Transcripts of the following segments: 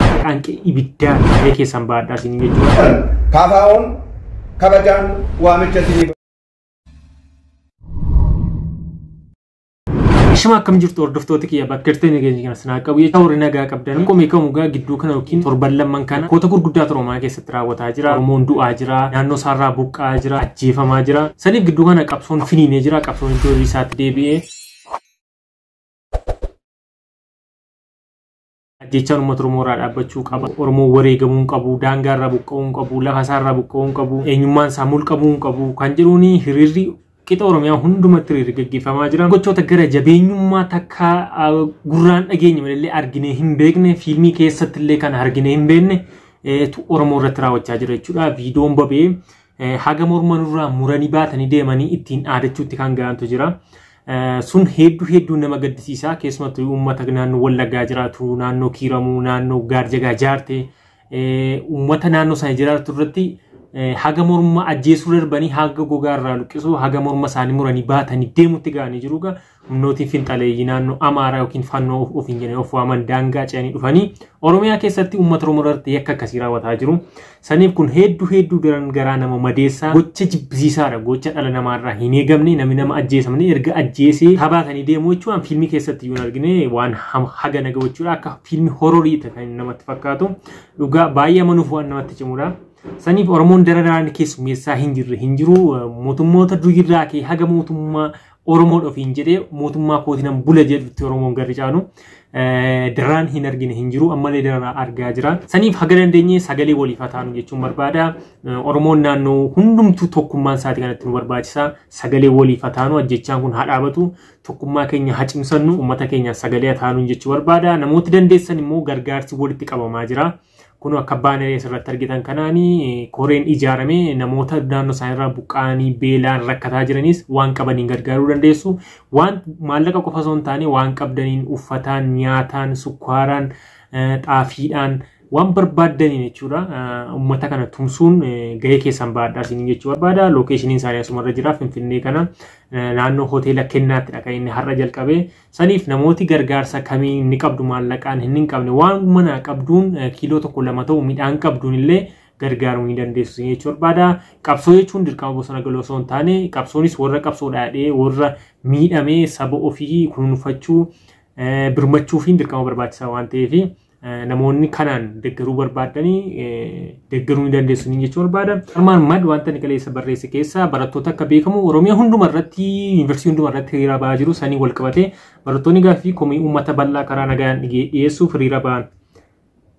Qaanqee ibiddaa mee keessan baadhaa isin jechuudha. Kaafaa'oon kabajaan waamicha isiniif. Shama akkam jirtu hordoftoota kiyya bakka jirtee nageenya kana sinaa qabu jecha warri nagaa qabdan qomee kamuu gaa gidduu kana yookiin torban lamman kana koota gurguddaa Oromiyaa keessatti raawwataa jira. Oromoon du'aa jira. Naannoo isaarraa buqqaa jira. Ajjeefamaa jira. Saniif gidduu kana qabsoon finiinee jira. Qabsoon iddoo isaatti deebi'ee ajjechaan uummata Oromoo irraa dhaabbachuu qaba. Oromoo wareegamuu hin qabu, daangaa irraa buqqa'uu hin qabu, lafa isaa irraa buqqa'uu hin qabu, eenyummaan isaa mulqamuu hin qabu kan jedhuun hiriirri qixa Oromiyaa hundumatti hiriirri gaggeeffamaa jira. Gochoota gara jabeenyummaa takka gurraan dhageenye malee arginee hin beekne, fiilmii keessatti illee kan arginee hin beekne tu Oromoo irratti raawwachaa jira jechuudha. Viidiyoon bobee Haga morma nurraa muranii baatanii deemanii ittiin dhaadachuutti kan ga'antu jira. Sun hedduu hedduu nama gaddisiisa. Keessumattuu uummata naannoo Wallaggaa jiraatu, naannoo Kiiramuu, naannoo Gaarjagaa jaarte, uummata naannoo sana jiraatu irratti haga morma ajjeesuu darbanii haga gogaa irraa luqqisuu haga morma isaanii muranii baatanii deemutti ga'anii jiru. Humnootiin finxaleeyyii naannoo Amaaraa yookiin Fannoo of ofiin jedhanii of waaman daangaa ce'anii dhufanii Oromiyaa keessatti uummata Oromoo irratti yakka akkasii raawwataa jiru. Saniif kun hedduu hedduu daran garaa nama madeessaa gocha jibbisiisaadha. Gocha dhala namaarraa hin eegamne namni nama ajjeesa malee erga ajjeesee tabaatanii deemuu jechuun waan fiilmii keessatti iyyuu hin argine waan ham- haga naga gochuudha akka fiilmii hororii ta'e kan namatti fakkaatu dhugaa baay'ee amanuuf waan namatti cimudha. Saniif Oromoon dara daraan keessummeessaa hin jirre hin jiru mootummoota durirraa kee haga mootummaa Oromoon ofiin jedhee mootummaa kootinan bula jedhutti Oromoon garri caalu daraan hin argine hin jiru ammallee daraa argaa jira. Saniif haga dandeenye sagalee waliif haa taanu jechuun barbaada. Oromoon naannoo hundumtuu tokkummaan isaati kanatti nu barbaachisa. Sagalee waliif haa taanu ajjechaan kun haa dhaabatu. Tokkummaa keenya haa cimsannu uummata keenya sagalee haa taanu jechuu barbaada. Namooti dandeessan immoo gargaarsi walitti qabamaa jira. Kun akka baanerii asirratti argitan kanaan koreen ijaaramee namoota naannoo isaaniirraa buqqa'anii beelaan rakkataa jiranis waan qabaniin gargaaruu dandeessu. Waan maallaqa qofa osoo hin taane waan qabdaniin uffataan, nyaataan, sukkaaraan, xaafiidhaan waan barbaaddaniin jechuudha. Uummata kana tumsuun gahee keessan baadhaa isin jechuu barbaada. Lookeeshiniin isaanii asumarra jira Finfinnee kana naannoo hoteela kennaattidha kan inni har'a jalqabee. Saniif namooti gargaarsa kamii inni qabdu maallaqaan hin hin qabne waan manaa qabduun kiiloo tokko lama ta'u midhaan qabduun illee gargaaruu ni dandeessu isin jechuu barbaada. Qabsoo jechuun dirqama bosona galuu osoo hin taane qabsoonis warra qabsoo dhaadhee warra miidhamee saba ofii kunuunfachuu birmachuufiin dirqama barbaachisaa waan ta'eef namoonni kanaan deggeruu barbaaddanii deggeruu ni dandeessu ni jechuu barbaada. Armaan mad wanta inni kaleessa barreesse keessaa barattoota akka beekamu Oromiyaa hunduma irratti yuunivarsiitii hunduma irratti hiriira ba'aa jiru sanii wal qabatee barattoonni gaaffii komii uummata bal'aa karaa nagaan dhiyeessuuf hiriira ba'an.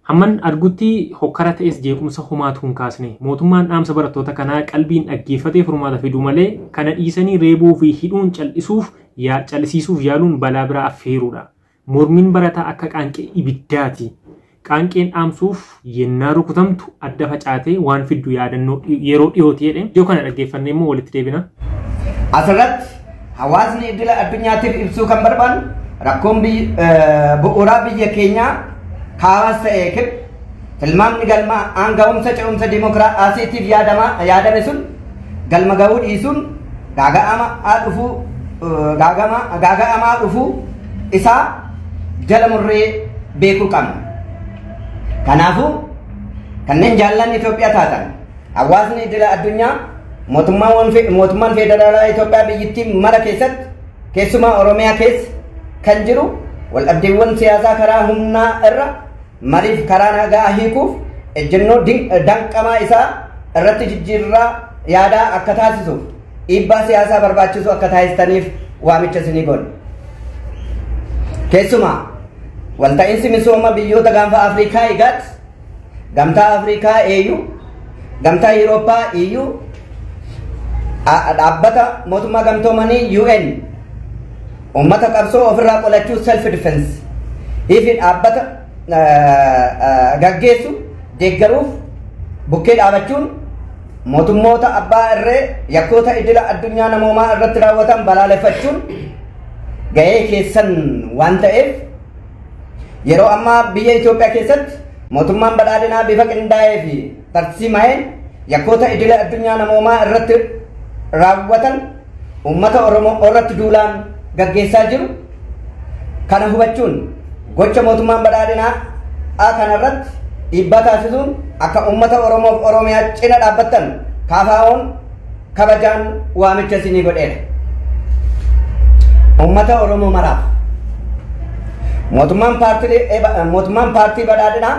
Hamman argutti hokkara ta'es jeequmsa homaatu hin kaasne. Mootummaan dhaamsa barattoota kanaa qalbiin dhaggeeffatee furmaata fiduu malee kana dhiisanii reebuu fi hidhuun cal'isuuf cal'isiisuuf yaaluun balaa biraa affeeruudha. Mormiin barataa akka qaanqee ibiddaati. Qaanqeen dhaamsuuf yennaa rukutamtu adda facaatee waan fiddu yaadannoo yeroo dhihooti jedhe. Ijoo kana dhaggeeffannee immoo walitti deebina. Asirratti hawaasni idila addunyaatiif ibsuu kan barbaadu rakkoon bu'uuraa biyya keenyaa kaabas ta'ee kib tilmaamni galmaa aanga'umsa ce'umsa dimokiraasiitiif yaadame sun Galma ga'uu dhiisuun gaaga'amaa dhufuu gaaga'amaa dhufuu isaa jala murree beekuu qabna. Kanaafuu kanneen jaallan Itoophiyaa taatan hawaasni idila addunyaa mootummaan federaalaa Itoophiyaa biyyittii mara keessatti keessumaa Oromiyaa keessa kan jiru waldhabdeewwan siyaasaa karaa humnaa irra Maliif karaa nagaa hiikuuf ejjennoo danqamaa isaa irratti jijjiirraa yaadaa akka taasisuuf dhiibbaa siyaasaa barbaachisu akka taasistaniif waamicha isinii goona. Keessumaa walta'iinsi misooma biyyoota gaanfa Afrikaa IGAD, Gamtaa Afrikaa AU, Gamtaa Yurooppaa EU, dhaabbata mootummaa gamtoomanii UN Uummata qabsoo ofirraa qolachuu self defense fi dhaabbata gaggeessu deeggaruuf bukkee dhaabachuun mootummoota abbaa irree yakkoota idila addunyaa namoomaa irratti raawwatan balaaleffachuun gahee keessan waan ta'eef yeroo ammaa biyya Itoophiyaa keessatti mootummaan badhaadhinaa bifa qindaa'ee fi tarsiima'een yakkoota idilee addunyaa namoomaa irratti raawwatan uummata Oromoo irratti duulaan gaggeessaa jiru kana hubachuun gocha mootummaan badhaadhinaa A kana irratti dhiibbaa taasisuun akka uummata Oromoof Oromiyaa cina dhaabbattan kaafaa'oon kabajaan waamicha isinii godheera. Uummata Oromoo maraaf mootummaan paartii badhaadhinaa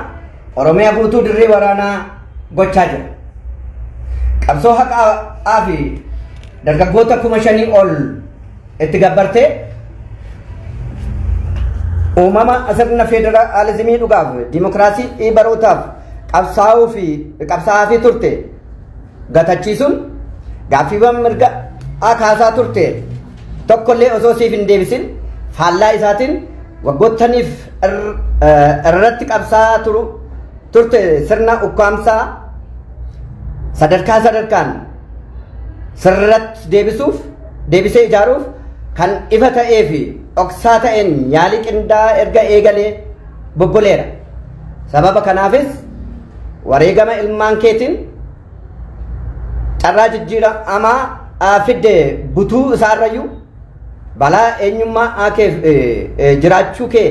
Oromiyaa guutuu dirree waraanaa gochaa jira. Qabsoo haqaa fi dargaggoota kuma shanii ol itti gabbartee uumama sirna federaalizimii dhugaaf dimokiraasii barootaaf qabsaa'uu fi qabsaa'aa fi turte gatachiisuun gaaffiiwwan mirga a kaasaa turte tokkollee osoo siif hin deebisin faallaa isaatiin waggoottaniif irratti qabsaa turu turte sirna ukkaamsaa sadarkaa sadarkaan sirratti deebisuuf deebisee ijaaruuf kan ifa ta'ee fi dhoksaa ta'een yaalii qindaa'aa erga eegalee bobboleera. Sababa kanaafis wareegama ilmaan keetiin carraa jijjiiramaa aa fidde butuu isaarrayyuu balaa eenyummaa aa keef jiraachuu kee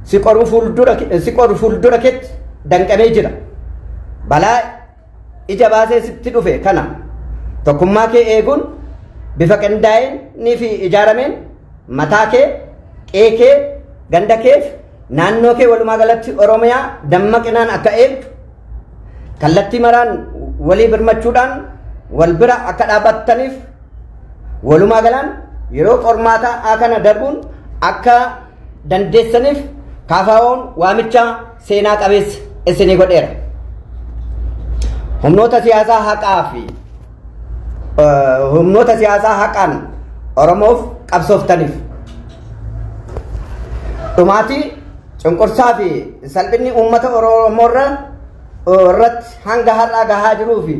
si qoru fuuldura keetti danqamee jira. Balaa ija baasee sitti dhufe kana tokkummaa kee eeguun bifa qindaa'een fi ijaarameen mataa kee qee kee ganda keef naannoo kee walumaa galatti oromiyaa dammaqinaan akka eegdu kallattii maraan walii birmachuudhaan wal bira akka dhaabattaniif walumaa galaan yeroo qormaataa kana darbuun akka dandeessaniif KFOn waamicha seenaa qabeessa isinii godheera. Humnoota siyaasaa haqaa fi humnoota siyaasaa haqaan Oromoof qabsooftaniif dhumaatii cunqursaa fi salphinni uummata Oromoorra irratti hanga har'aa gahaa jiruu fi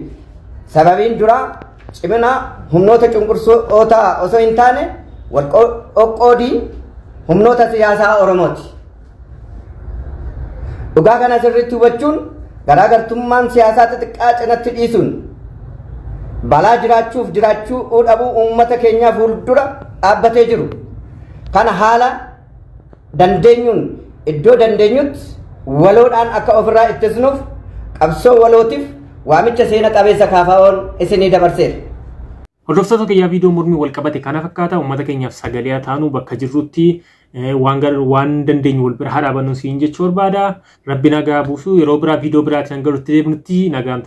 sababiin duraa Cimina humnoota cunqursitootaa osoo hin taane wal qoqqoodii humnoota siyaasaa Oromooti. Dhugaa kana sirriitti hubachuun garaagartummaan siyaasaa xixiqqaa cinatti dhiisuun balaa jiraachuuf jiraachuu dhabuu uummata keenyaa fuuldura dhaabbatee jiru. Kana haala dandeenyuun iddoo dandeenyutti waloodhaan akka ofirraa ittisnuuf qabsoo walootiif waamicha seena qabeessa kaafaa'oon isinii dabarseera. Hordoftoota kiyyaa viidiyoo mormii wal qabate kana fakkaata uummata keenyaaf sagalee haa taanu bakka jirrutti waan waan dandeenyu wal bira haa dhaabannu siin jechuu barbaada. Rabbi nagaa buusu yeroo biraa viidiyoo biraatiin galutti deebinutti nagaan